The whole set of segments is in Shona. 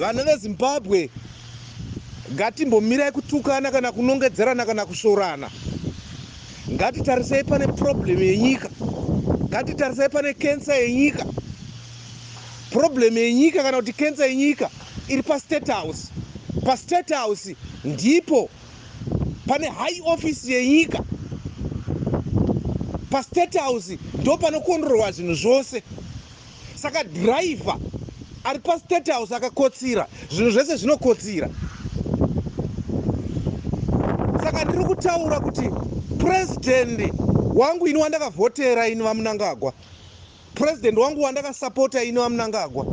Vana veZimbabwe ngatimbomirai kutukana kana kunongedzerana kana kusvorana. Ngatitarisei pane problem yenyika. Ngatitarisei pane cancer yenyika. Problem yenyika kana kuti cancer yenyika iri paState House. PaState House ndipo pane high office yenyika. PaState House ndopanokonrorwa zvinhu zvose. Saka driver ari pa state house akakotsira zvinhu zvese zvinokotsira saka ndiri kutaura kuti president wangu ini wandakavhotera ini vamunangagwa president wangu wandakasapota ini vamunangagwa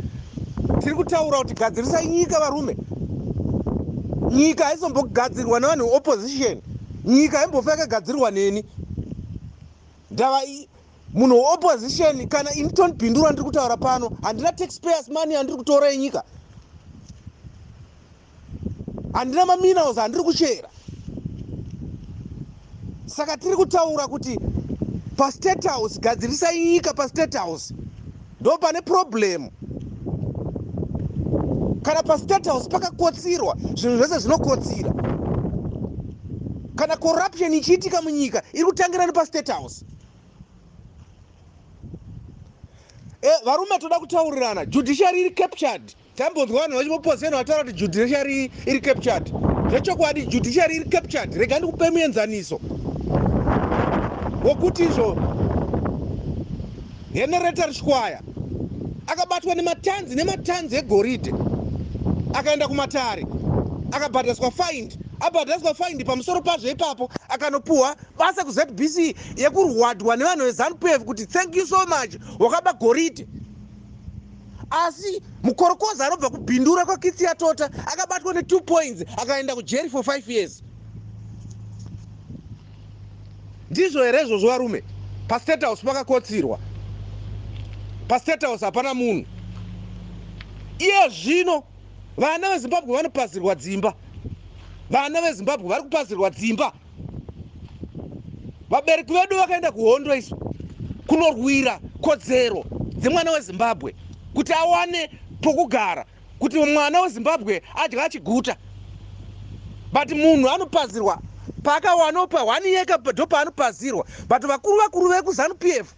tiri kutaura kuti gadzirisai nyika varume nyika haizombogadzirwa nevanhu veopposition nyika haimbofa yakagadzirwa neni ndava Munhu we opposition kana ini Tony Bindura ndiri kutaura pano handina taxpayers money andiri kutora enyika. Handina ma minerals andiri kuchera. Saka tiri kutaura kuti pa state house gadzirisai nyika pa state house ndo pane problem kana pa state house pakakotsirwa zvinhu zvese zvinokotsira kana corruption ichiitika munyika iri kutangira nepa state house Eh, varume toda kutaurirana judiciary iri captured tambonzwa vanhu vachipopozenwa vataura kuti judiciary iri captured zvechokwadi judiciary iri captured rega ndikupe muenzaniso wokuti izvo henereta rishwaya akabatwa nematanzi nematanzi egoridhe akaenda kumatare akabhadhariswa faindi abhadhariswa faindi pamusoro pazvo ipapo akanopuhwa basa kuZBC yekurwadwa nevanhu veZanupf kuti thank you so much wakaba goridhe asi mukorokoza anobva kubhindura kwakitsi yatota akabatwa ne2 points akaenda kujeri for 5 years ndizvo here izvozvo varume pastate house pakakotsirwa pastate house hapana munhu iye zvino vana vezimbabwe vanopazirwa dzimba vana vezimbabwe vari kupazirwa dzimba vabereki vedu vakaenda kuhondo isu kunorwira kodzero dzemwana wezimbabwe kuti awane pokugara kuti mwana wezimbabwe adya achiguta but munhu anopazirwa paakawanopa one yeka ndo paanopazirwa but vakuru vakuru vekuzanu p f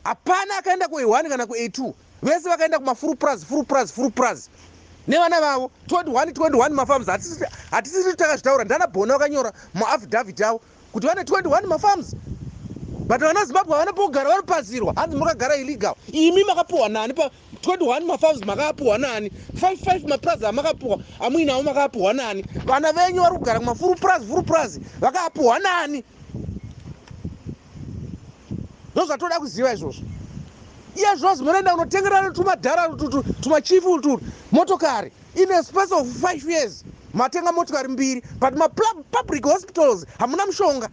hapana akaenda kuehwani kana kuetu vese vakaenda kuma full praz full praz full praz nevana vavo 21 21 mafarms hatisiri takazvitaura ndana bona vakanyora muaffidavit avo kuti vane 21 mafarms but vana zimbabwe havana pokugara vanopazirwa hanzi mukagara illegal imi makapuhwa nani pa 21 mafarms makaapuhwa nani 55 mapraz amakapuhwa amuinavo makaapuhwa nani vana venyu vari kugara kumafuru praz furu praz vakaapuhwa nani ndozvatoda kuziva izvozvo iye zvozi munoenda kunotengerana tumadhara tumachifi utu motokari in a space of five years matenga motokari mbiri but mapublic hospitals hamuna mushonga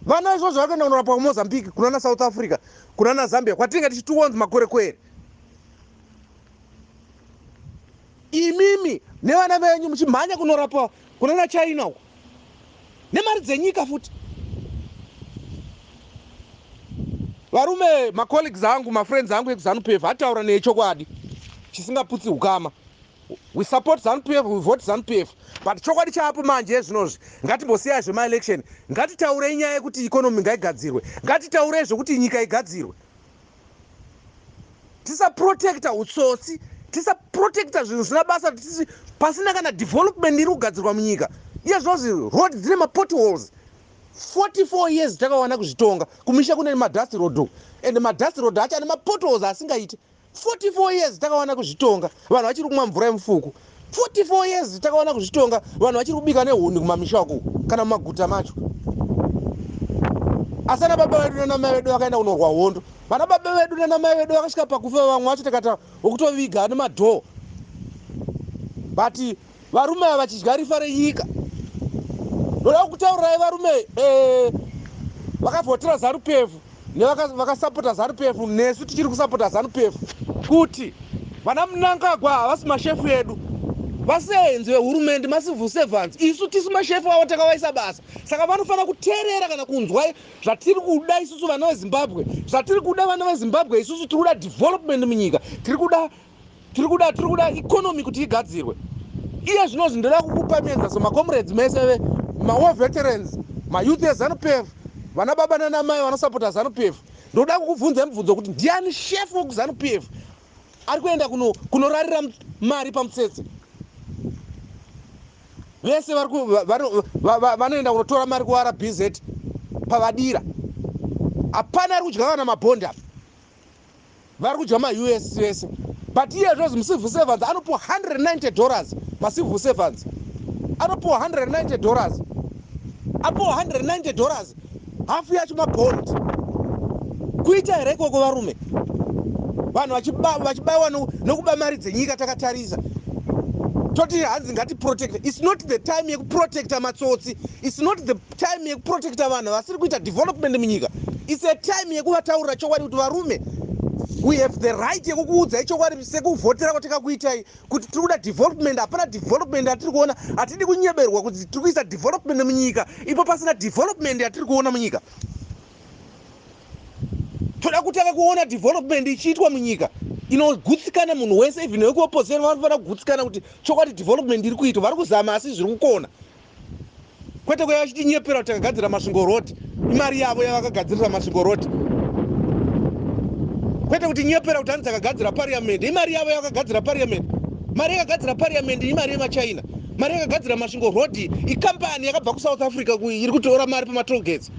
vana izvozvo vakaenda kunorapwa kumozambique kunana south africa kunana zambia kwatinenge tichitiwonzi makorekwere imimi nevana venyu muchimhanya kunorapwa kunana china uko nemari dzenyika futi varume macolleagues angu mafriends angu ekuzanupief ataura neye chokwadi chisingaputsi ukama we support zanupief we vote zanupief but chokwadi chaapo manje ezvinozvi ngatimbosiyai zvemaelection ngatitaurei nyaya yekuti economy ngaigadzirwe ngatitaurei zvekuti nyika igadzirwe tisaprotecta hutsotsi tisaprotecta zvinhu zvisina basa tisi pasina kana development iri kugadzirwa munyika iye zvinonzi road dzine mapotholes 44 years takawana kuzvitonga kumisha kune madust road uku and madust road acho ane mapotholes asingaiti 44 years takawana kuzvitonga vanhu vachiri kumwa mvura yemufuku 44 years takaona kuzvitonga vanhu vachiri kubika nehuni kumamisha uku kana mumaguta macho asi ana baba vedu nanamai vedu vakaenda kunorwa hondo vana baba vedu nanamai vedu vakasvika pakufa vamwe vacho takata vokutoviga nemadhoo but varume ava vachidya rifa renyika ndoda kukutaurirai varume eh, vakavhotera zarupefu nevakasapota vaka zanupf nesu tichiri kusapota zanupf kuti vana mnangagwa havasi mashefu edu vasenzi vehurumende macivil servants isu tisu mashefu avo takavaisa basa saka vanofanira kuteerera kana kunzwa zvatiri kuda isusu vana vezimbabwe zvatiri kuda vana vezimbabwe isusu tiri kuda development munyika tiri kuda tiri kuda tiri kuda economy kuti igadzirwe iye zvinozi ndoda kukupa menza so macomrades mese ve mawar veterans mayouth ezanupf vana baba nanamai vanosapota zanupf ndoda kukubvunza mubvunzo kuti ndiani shefu wekuzanupf ari kuenda kunorarira kuno mari pamutsetse vese vanoenda kunotora mari kurbz pavadira hapana ari kudya vana mabhondi apa vari kudya maus vese but iye zvozi mucivil servants anopiwa 190 dollars macivil servants anopiwa 190 dollars apiwa 190 dollars hafu yacho mabond kuita here ikoko varume vanhu vachibaiwa nokuba mari dzenyika takatarisa toti hanzi ngatiprotecte its not the time yekuprotecta matsotsi its not the time yekuprotecta vanhu vasiri kuita development munyika its a time yekuvataurira chokwadi kuti varume we have the right yekukuudzai chokwadi sekuvhotera kwatikakuitai kuti tiri kuda development hapana development yatiri kuona hatidi kunyeberwa kuti tiri kuisa development munyika ipo pasina development yatiri kuona munyika toda kutanga kuona development ichiitwa munyika inogutsikana munhu wese even wekuopposition vanofanira kugutsikana kuti chokwadi development iri kuitwa vari kuzama asi zviri kukona kwete kwaiva vachitinyepera kuti takagadzira masvingo road imari yavo yavakagadzirisa masvingo road kwete kuti nyepera kuti hanzi takagadzira pariamende imari yavo yavakagadzira pariamende mari yakagadzira pariamende imari yemachina mari yakagadzira masvingo road ikambani yakabva kusouth africa iri kutora mari pamatolgates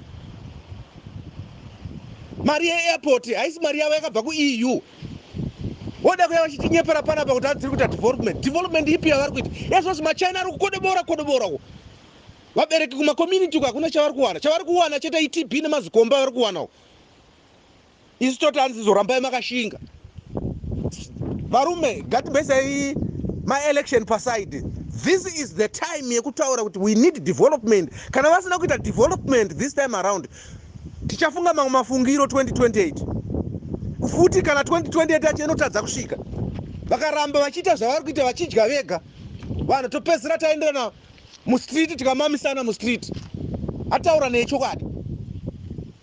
mari yeairport haisi mari yavo yakabva kueu Voda kuya vachitinyepera panapa kuti hadziri kuita development. Development ipi yavari kuita? Ezvozvi maChina ari kukodobora kodobora uko. Vabereki kuma community uko hakuna chavari kuwana. Chavari kuwana chete iTB nemazikomba vari kuwana uko. Isu toti hanzi zorambai makashinga. Varume, gatibesai maelection paside. This is the time yekutaura kuti we need development. Kana vasina kuita development this time around, Tichafunga mamwe mafungiro 2028 futi kana 2028 yacho inotadza kusvika. Vakaramba vachiita zvavari kuita vachidya vega vanhu topedzisira taenderana mustreet tikamamisana mustreet. Ataura nechokwadi.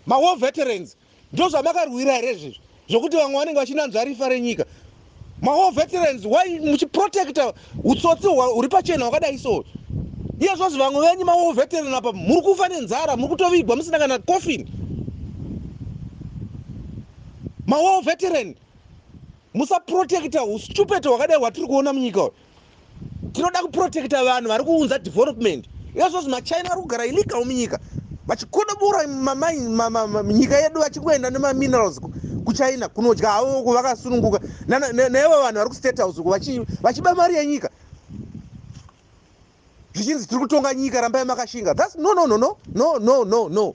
Mawar veterans ndozvamakarwira here izvizvi? zvokuti vamwe vanenge vachinanzva rifa renyika mawar veterans why muchiprotecta utsotsi huri pachena hwakadai so iye zvozi vamwe venyu mawar veteran apa muri kufa nenzara muri kutovigwa musina kana coffin mawar veteran musaprotecta ustupet hwakadai hwatiri kuona munyika uyu tinoda kuprotecta vanhu vari kuunza development iyozvozi machina vari kugara illegal munyika vachikodobora nyika yedu vachingoenda nemaminerals kuchina kunodya havo uko vakasununguka naivo vanhu vari kustate house uko vachiba mari yenyika zvichinzi tiri kutonga nyika rambai makashinga thats no no no no no no no no